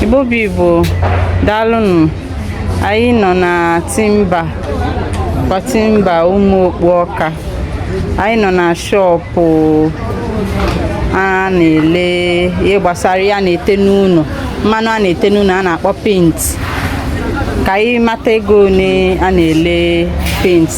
Igbo bụ Igbo daalụnụ anyị nọ na Timba kwa Timba Ụmụokpu Ọka anyị nọ na shọpụ a na-ele ihe gbasara ihe a na-ete n'ụnọ mmanụ a na-ete n'ụnọ a na-akpọ penti ka anyị mata ego one a na-ele penti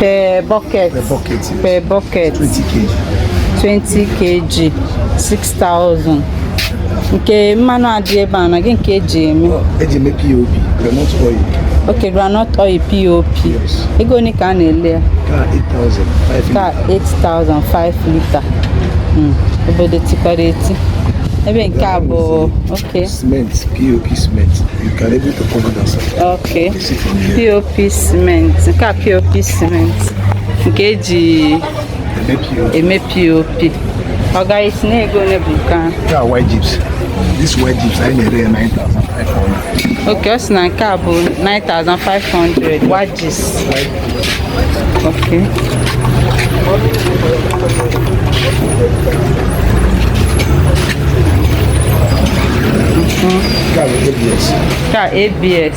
per bucket per bucket yes. per bucket 20 kg 20 kg 6000 nke mmanụ a dị ebe a na gị nke e ji eme e ji eme POP groundnut oil ok groundnut oil POP ego one ka a na-ele ya ka 8500 lita hmm, obodo tikwara eti ebe nke a bụ ok cement POP cement you can able to cover that ok POP cement nke a POP cement nke e ji eme POP ọga ị sị na ego ole bụ nke a white chips this white chips anyị na-ere ya 9500 okay ọ sị na nke a bụ 9500 white chips okay Ka a, ABS. Tá, ABS.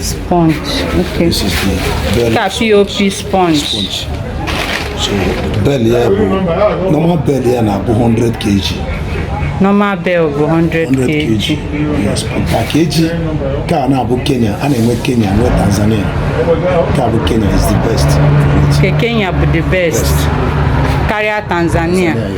Sponge. Okay. This is the bale. POP sponge. sponge. So bale ya bụ normal bale ya na-abụ 100 kg. Normal bale bụ 100 kg. 100 kg. Yes, per kg ka a na-abụ Kenya, a na-enwe Kenya, nwee Tanzania. Ka bụ Kenya is the best. Ke Kenya bụ the best. best. Karịa Tanzania. Tanzania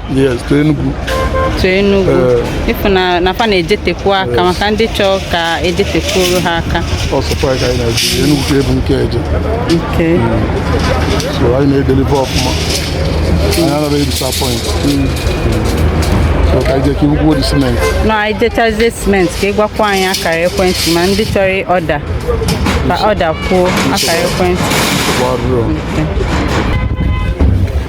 Yes, to Enugu. to Enugu Eh. ị fụ na na fa na-ejetekwu aka maka ndị chọọ ka e jetekwuru ha aka Ọ sọkwa ka anyị na-eje Enugu ka ebu nke eje. nke So anyị na-edelive ọfụma. Anyị anaghị disappoint. So ka anyị jee ka i kwuo the cement. na anyị jechazie cement ka ị gwakwa anyị akara ekwentị ma ndị chọrọ ọda ka ọda kwuo akara ekwentị Gbaa rụọ.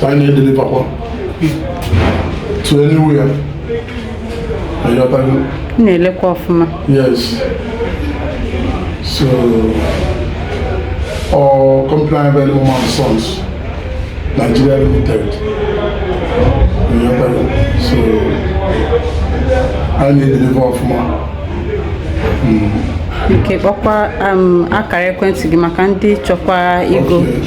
so anyị na-edelivakwa to anywhere na-elekwa ọfụma yes so our company very woman sons Nigeria limited so anyị na-edelivakwa ọfụma okay kpọkwa um, akara ekwentị gị maka ndị chọkwa igo